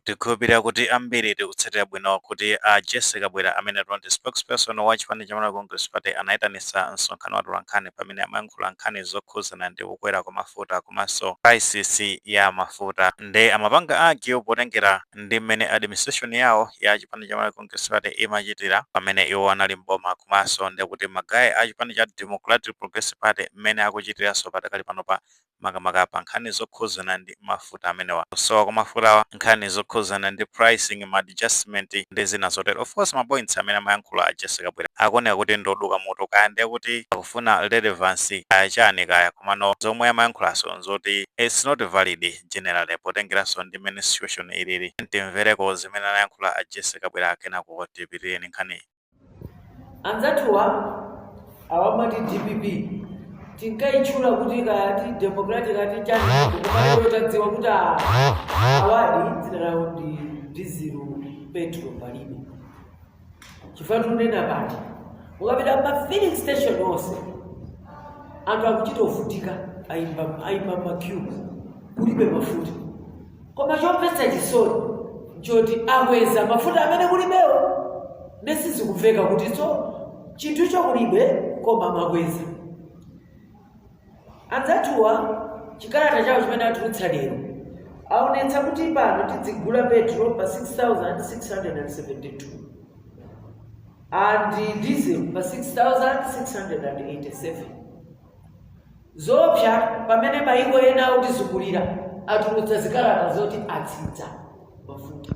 Tikhulupirira kuti ambiri tikutsatira bwino kuti a Jessie Kabwila amenetu ndi spokesperson wa chipani cha Malawi Congress Party anayitanitsa msonkhano wa atolankhani pamene amayankhula nkhani zokhuzana ndi kukwera kwa mafuta komanso crisis ya mafuta nde amapanga argue potengera ndi mmene administration yawo ya chipani cha Malawi Congress Party imachitira pamene iwo anali m'boma komanso ndekuti ma guy a chipani cha Democratic Progressive Party mmene akuchitiranso padakali panopa makamaka pa nkhani zokhuzana ndi mafuta amenewa, kusowa kwa mafutawa, nkhani zokhuzana ndi pricing, ma adjustment ndi zina zotero. Of course ma points amene amayankhula a Jessie Kabwila akuoneka kuti ndi oduka mutu, kaya ndiye kuti akufuna relevance kaya chani kaya, komano zomwe amayankhulazo nzoti it's not valid generally potengeranso ndi mmene situation ilili. Tiyeni timvereko zimene anayankhula a Jessie Kabwila kenako tipitirire ndi nkhaniyi. anzathuwa awamati dpp tinkayitchula kuti kati democratic ati chani koma iyo tadziwa kuti a- awadi dzina lawo ndi dizilu petro palibe chifukwa tunena pati ukapita pa filling station onse anthu akuchita ovutika ayimba ayimba ma queue kulibe mafuta koma chomvetsa chisoni nchoti akweza mafuta amene kulibewo nde sizikumveka kutitso chinthucho kulibe koma mwakweza anzathuwa chikalata chawo chimene atulutsa lero aonetsa kuti pano tidzigula petro pa 6672 and diesel pa 6687 Zoopsa pamene mayiko ena otizungulira atulutsa zikalata zoti atsitsa mafuta.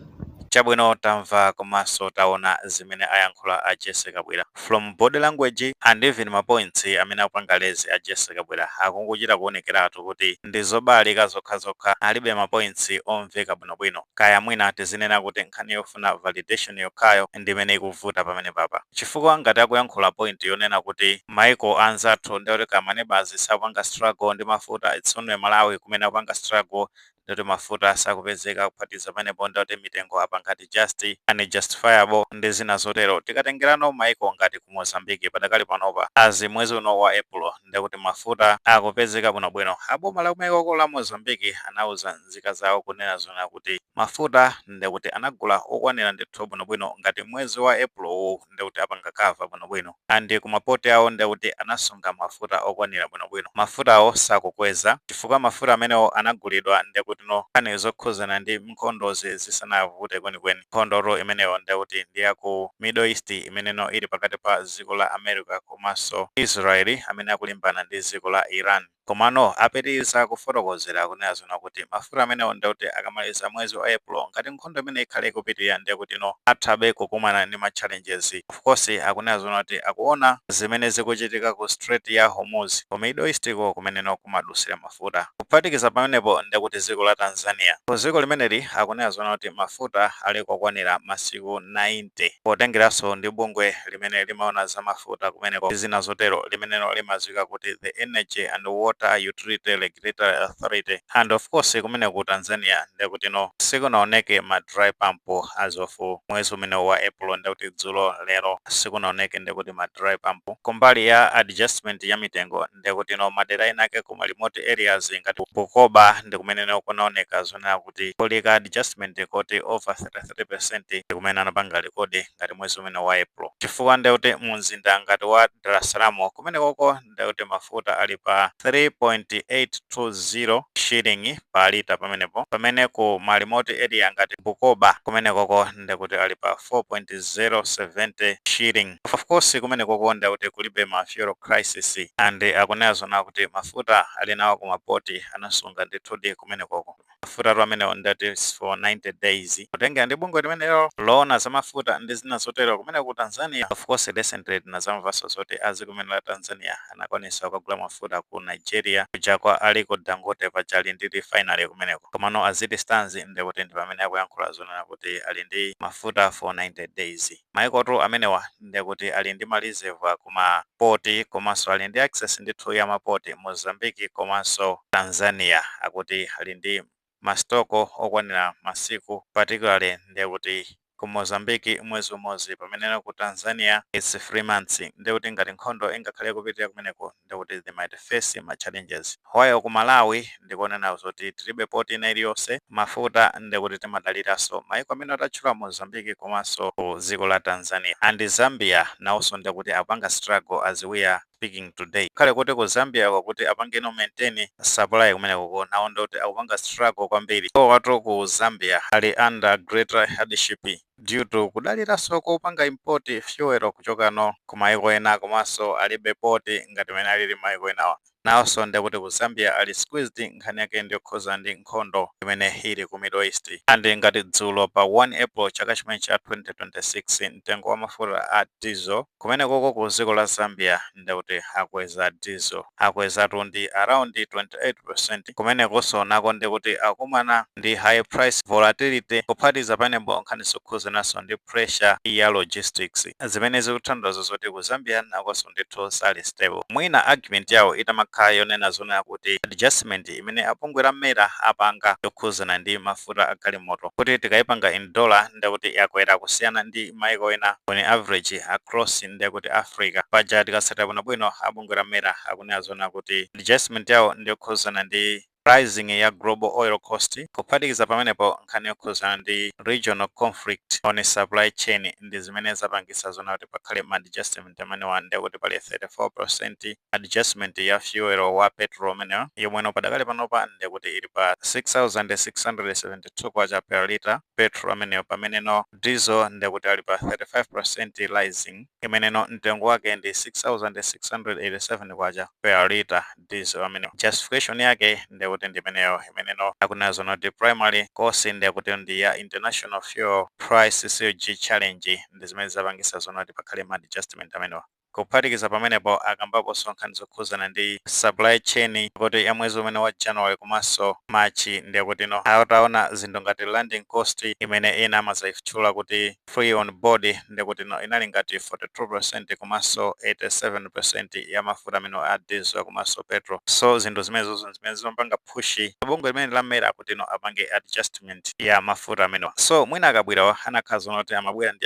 Chabwino tamva komanso taona zimene ayankhula a Jessie Kabwila. From body language and even ma points amene akupanga raise a Jessie Kabwila akungochita kuonekeratu kuti ndi zobalalika zokhazokha alibe ma points omveka bwinobwino. Kaya mwina tizinena kuti nkhani yofuna validation yokhayo ndi imene ikuvuta pamenepapa. Chifukwa ngati akuyankhula point yonena kuti. Maiko anzathu nde kuti kaya ma neighbours sakupanga struggle ndi mafuta it's only Malawi kumene akupanga struggle ndi kuti mafuta sakupezeka kuphatikiza pamenepo nde kuti mitengo apanga adjust unjustifiable ndi zina zotero. Tikatengerano maiko ngati ku Mozambique padakali panopa as mwezi uno wa April nde kuti mafuta akupezeka bwino bwino. A boma la kumaikoko la Mozambique anauza nzika zawo kunena zoona kuti mafuta nde kuti anagula okwanira ndithu bwino bwino ngati mwezi wa April wu. ndekuti apanga cover bwinobwino and ku ma port awo ndekuti anasunga mafuta okwanira bwinobwino. Mafutawo sakukweza chifukwa mafuta amenewo anagulidwa ndekutino nkhani zokhuzana ndi nkhondozi zisanavute kwenikweni. Nkhondotu imeneyo ndekuti ndi ya ku Middle East imeneno ili pakati pa dziko la America komanso Israel amene akulimbana ndi dziko la Iran. Komano apitiliza kufotokozera akunena zoona kuti mafuta amenewo ndiye kuti akamaliza mwezi wa April ngati nkhondo imeneyi ikhale ikupitilira ndiye kutino athabe kukumana ndi ma challenges. Of course akunena zoona kuti akuona zimene zikuchitika ku Strait ya Hormuz ku Middle East ko kumeneno kumadutsira mafuta. Kuphatikiza pamenepo ndiye kuti dziko la Tanzania ku dziko limeneli akunena zoona kuti mafuta ali kokwanira masiku 90 potengeranso ndi bungwe limene limaona za mafuta kumeneko ndi zina zotero limenelo limadziwika kuti the energy and water utility regulatory authority and of course kumene ku tanzania ndekutino sikunaoneke ma dry pump as of mwezi umene wa april ndekuti dzulo lero sikunaoneke ndekuti ma dry pump kumbali ya adjustment ya mitengo ndekutino madera enake kuma remote areas ngati Bukoba ndi kumeneno kunaoneka zonena kuti kuli ka adjustment koti over 33 percent kumene anapanga rekodi ngati mwezi umene wa April chifukwa ndiye kuti mu mzinda ngati wa Dar es Salaam kumenekoko ndiye kuti mafuta ali pa 3.820 shilling pa lita pamenepo pamene ku ma remote area ngati Bukoba kumenekoko ndiye kuti ali pa 4.070 shilling of course kumenekoko ndiye kuti kulibe ma fuel crisis and akunena zona kuti mafuta ali nawo ku mapoti anasunga ndithudi kumenekoko Mafutatu amenewo ndi ati is for 90 days. Kutengera ndi bungwe limenelo loona za mafuta ndi zina zotero kumene ku Tanzania. Of course recently tinazamvanso zoti dziko limene la Tanzania anakwanisa kukagula mafuta ku Nigeria kuja kwa Aliko Dangote paja ali ndi refinery kumeneko. Komano as it stands ndekuti ndipamene akuyankhula zonena kuti ali ndi mafuta for 90 days. Maikotu amenewa ndekuti ali ndi ma reserve ku ma port komanso ali ndi access ndithu ya ma port, Mozambique komanso Tanzania akuti ali ndi ma stock okwanira masiku particularly ndekuti ku Mozambique mwezi umodzi pameneno ku Tanzania its 3 months ndekuti ngati nkhondo ingakhale ikupitilira kumeneko ndikuti they might face ma challenges while ku Malawi ndikonena zoti tilibe port ina iliyonse, mafuta ndekuti timadaliranso maiko amenewa tatchula Mozambique komanso ku dziko la Tanzania and Zambia nawonso ndekuti akupanga struggle as we are speaking today ngakhale kuti ku Zambia ko kuti apangeno maintain supply kumenekoko nawo ndekuti akupanga struggle kwambiri, iwowatu ku Zambia ali under greater hardship. due to kudaliranso kopanga import fuel kuchoka no kumaiko ena komanso alibe port ngati mene alili maiko enawa nawonso ndekuti ku zambia ali squeezed nkhani yake ndiyokhuza ndi nkhondo imene ili ku middle east and ngati dzulo pa 1 april chaka chimene cha 2026 mtengo wa mafuta a diesel kumene koko ku dziko la zambia ndekuti akweza diesel akwezatu ndi around 28% kumenekonso nako ndekuti akumana ndi high price volatility kuphatikiza pamenepo nkhani zokhudzananso ndi pressure ya logistics zimene zikuthandiza zoti ku zambia nakonso ndithu sali stable mwina argument yawo itamakhala yonena zoona kuti adjustment imene abungwe la mera apanga yokhudzana ndi mafuta a galimoto kuti tikayipanga in dollar ndekuti yakwera kusiyana ndi maiko ena on average across ndiye kuti Africa. Paja tikatsatira bwinobwino a bungwe la MERA akunena zoona kuti adjustment yawo ndi yokhudzana ndi rising ya global oil cost, kuphatikiza pamenepo nkhani yokhudzana ndi regional conflict on supply chain ndi zimene zapangitsa zoona kuti pakhale ma adjustment amenewa, ndiye kuti pali 34% adjustment ya fuel wa petrol umenewo, yomweno padakali panopa ndiye kuti ili pa K6672 per litre. petrol ameneyo pameneno diesel ndekuti ali pa 35% rising imeneno mtengo wake ndi 6687 kwacha per liter diesel ameneyo justification yake ndekuti ndimeneyo imeneno akunena zoona kuti primary cause ndekuti ndi ya international fuel price surge challenge ndi zimene zapangitsa zoona kuti pakhale ma adjustment amenewa Kuphatikiza pamenepo akambaponso nkhani zokhudzana ndi supply chain kuti ya mwezi umene wa January komanso March ndiye kutino ataona zinthu ngati landing cost imene ena amadzaitchula kuti free on board ndiye kutino inali ngati 42% komanso 87% ya mafuta amenewa a diesel komanso petrol so zinthu zimenezozo nzimene zimapanga push bungwe limeneli la MERA kutino apange adjustment ya mafuta amenewa so mwina a Kabwirawa akanakhala zoona kuti amabwera ndi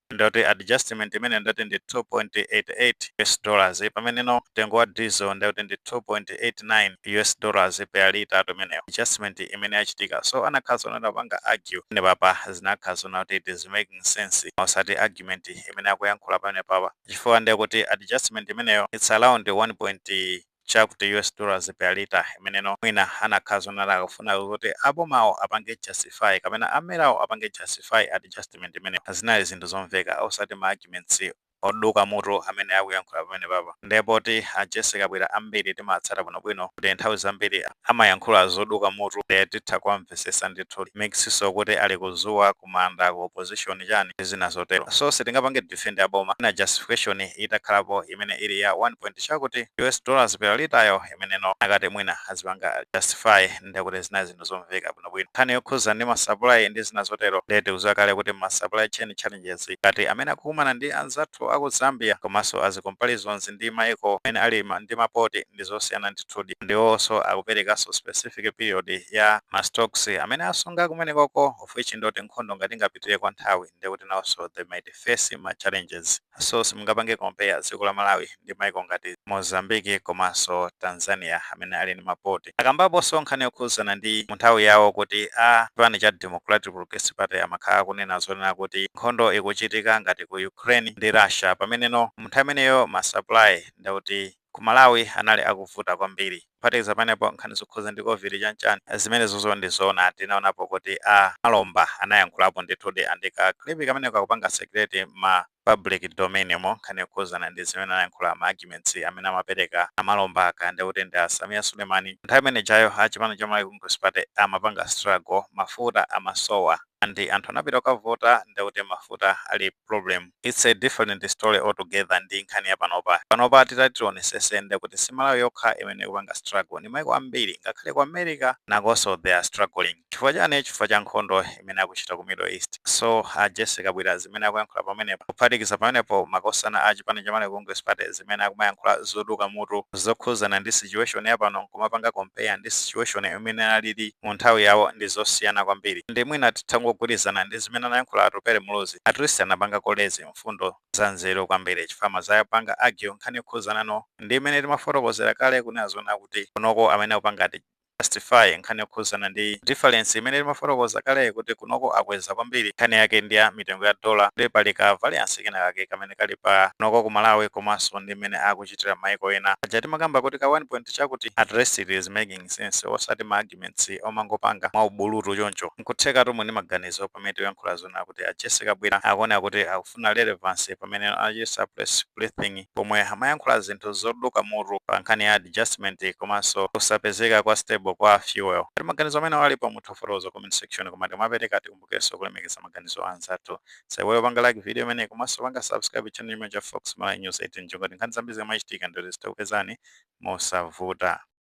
ndoti adjustment imeneyo ndoti ndi 2.88 us dollars pameneno mtengo wa diesel ndikuti ndi 2.89 us dollars per litatu ameneyo adjustment imene yachitika so akanakhala zoona atapanga argue pamenepapa zinakhala zoona kuti it is making sense osati argument imene akuyankhula pamenepapa chifukwa ndekuti adjustment imeneyo it's around 1. chakuti US dollars per litre imeneno mwina akanakhala zoona akufuna kuti abomawo apange justify kapena a merawo apange justify adjustment imeneyo. Zinali zinthu zomveka osati ma arguments oduka mutu amene akuyankhula pamenepapa. Nde poti a Jessie Kabwira ambiri timawatsata bwinobwino kuti nthawi zambiri amayankhula zoduka mutu nde titha kuwamvetsetsa ndithu. Makisinso kuti ali kudzuwa, kumanda ku opposition chani ndi zina zotero so sitingapange defend aboma mwina justification itakhalapo imene ili ya 1 point chakuti us dollars per liter yo imeneno akati mwina azipanga justify ndekuti zinali zinthu zomveka bwinobwino nkhani yokhudza ndi ma supply ndi zina zotero ndiye tikudziwa kale kuti ma supply chain challenges ngati amene akukumana ndi anzathu aku zambia komanso as comparisons ndi maiko amene ali ndi mapoti ndi zosiyana ndithudi ndi iwonso akuperekanso specific period ya ma stocks amene asunga kumenekoko which ndoti nkhondo ngati ingapitire kwa nthawi ndekuti nawonso they might face ma challenges so simungapange compare dziko la Malawi ndi maiko ngati Mozambique komanso Tanzania amene ali ndi ma port. Akambaponso nkhani yokhudzana ndi mu nthawi yawo kuti a chipani cha Democratic Progressive Party amakhala akunena zonena kuti nkhondo ikuchitika ngati ku Ukraine ndi Russia pameneno mu nthawi imeneyo ma supply ndekuti Ku Malawi anali akuvuta kwambiri. Kuphatikiza pamenepo, nkhani zokhuza ndi Covid chanichani zimenezozo ndi zoona tinaonapo kuti a Namalomba anayankhulapo ndithudi and ka clip kameneko kakupanga circulate mma public domain mo nkhani yokhuzana ndi zimene anayankhula ma arguments amene amapereka a Namalomba kaya ndekuti ndi a Sameer Sulemani. Nthawi imene ijayo a chipani cha Malawi Congress Party amapanga struggle mafuta amasowa. and anthu anapita kukavota ndekuti mafuta ali problem its a different story altogether ndi nkhani ya panopa. Panopa titati tionesese ndekuti si Malawi yokha imene ikupanga struggle ni maiko ambiri ngakhale ku America nakonso they are struggling. Chifukwa chani? Chifukwa cha nkhondo imene akuchita ku Middle East. So a Jessie Kabwila zimene akuyankhula pamenepa kuphatikiza pamenepo makosana a chipani cha Malawi Congress Party zimene akumayankhula zoduka mutu zokhuzana ndi situation ya pano nkumapanga compare ndi situation imene inalili mu nthawi yawo ndi zosiyana kwambiri ndi mwina titangogwirizana ndi zimene anayankhula Atupele Muluzi, at least anapanga ko raise mfundo za nzeru kwambiri chifukwa amazapanga argue nkhani yokhuzana no ndi imene timafotokozera kale kunena zonena kuti kunoko amene akupanga ati justify nkhani yokhuzana ndi difference imene timafotokoza kale kuti kunoko akweza kwambiri nkhani yake ndi ya mitengo ya dollar ndi pali ka variance kena kake kamene kali pa kunoko ku Malawi komanso ndi imene akuchitira maiko ena aja timakamba kuti ka 1 point chakuti at least it is making sense osati ma arguments omangopanga mwa ubulutu choncho. Nkuthekatu muli ndi maganizo pamene tikuyankhula zonena kuti a Jessie Kabwila akuoneka kuti akufuna relevance pamene anachitsa press briefing pomwe amayankhula zinthu zoduka mutu pa nkhani ya adjustment komanso kusapezeka kwa stable kwa fuel. Ngati maganizo amenewo alipo mutha kufotokoza ku comment section koma tikamapereka tikumbukirenso kulemekeza maganizo anzathu. Musaiwale kupanga like video imeneyi komanso kupanga subscribe channel chimenechi cha Fox Malawi News 18 choncho kuti nkhani zambiri zikamachitika ndithu zidakupezani mosavuta.